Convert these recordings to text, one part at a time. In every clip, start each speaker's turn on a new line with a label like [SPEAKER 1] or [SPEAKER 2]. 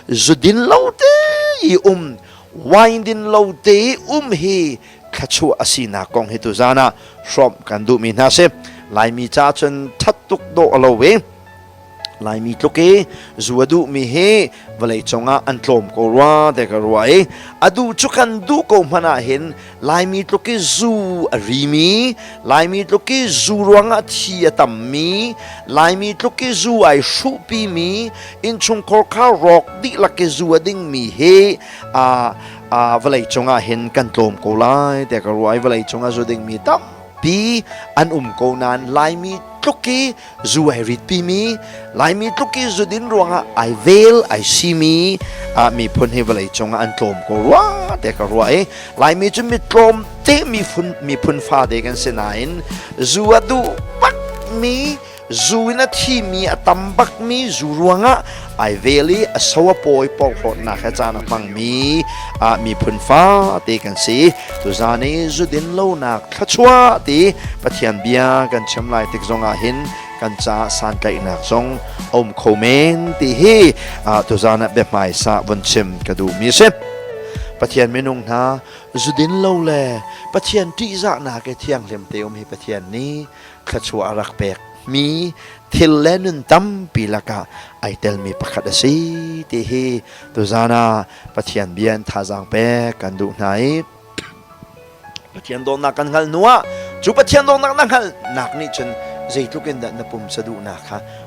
[SPEAKER 1] zudin lo te i um wine din lo te i um hi thlachu asinak kong hi tu zan ah hrawm kan duhmi hna si laimi cha cun that tuk dawh lo ve laimi tluk i zua duhmi hi vawlei cungah an tlawm ko rua te ka rua i adu cu kan duh ko hmana hin Laimi tluk i zu a rimi, Laimi tluk i zu ruangah thi a tammi, Laimi tluk i zu ai hruhpimi, innchungkhar kha rawk dihlak i zu a dingmi hi aa uh, vawlei cungah hin kan tlawm ko lai te ka ruai vawlei cungah zu dingmi tampi an um ko nain laimi tluk i zu ai rit pimi laimi tluk i zudin ruangah ai vel ai simi ah miphun hi vawlei cungah an tlawm ko rua te ka rua i laimi cu mi tlawm te miphun miphun fa te kan si nain zu a duh bak mi zu in a thimi a tam bak mi zu ruangah ai vel i a so a pawi porhlawtnak he caan a hmangmi ah miphun fate kan si tuzan i zudin lonak thluachuah ti pathian bia kan chim lai tik zongah hin kan ca santlaihnak zong om kho men ti hi tuzan ah biahmaisa vun chim ka duh mi si pathian minung hna zudin lo le pathian ṭihzahnak i thianghlim te um hi pathian nih thluachuah a rak pek mi thil le nun tampi lakah ai telmi pakhat a si ti hi tuzan ah Pathian bia in thazaang pek kan duh hna i Pathian dawtnak kan hngalh hnuah cu Pathian dawtnak na hngalhnak nih cun zeitluk in dah na pumsa duhnak kha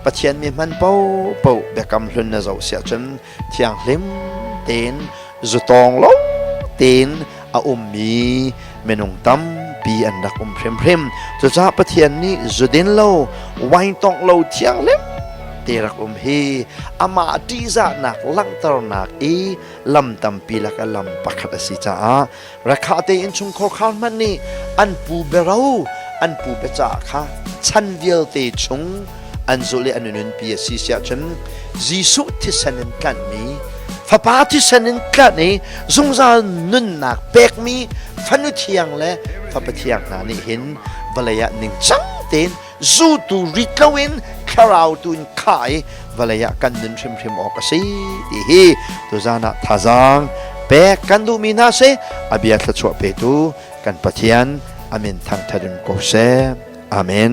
[SPEAKER 1] Pathian mi hman popo biakam hlun na zoh siah cun thianghlim tein zutawng lo tein a ummi minung tampi an rak um hrimhrim cucaah Pathian nih zudin lo waintawng lo thianghlim te rak um hi amah ṭihzahnak langhternak i lam tampi lak a lam pakhat a si caah Rakhah tein chungkhar khar hmanh nih an pu bero an pu becaah kha chan vialte chung an zulh i an nunpi a si siah cun Jesuh thisen in tlanhmi fapa thisen in tlanh i zungzal nunnak pekmi fanu thiang le fapa thiang hna nih hin vawlei ah ningcang tein zutu rit loin thlarau tu in khah i vawlei ah kan nun hrimhrim awk a si ti hi tuzan ah thazaang pek kan duhmi hna si abia thluachuah petu kan pathian amin thangtharin ko seh amen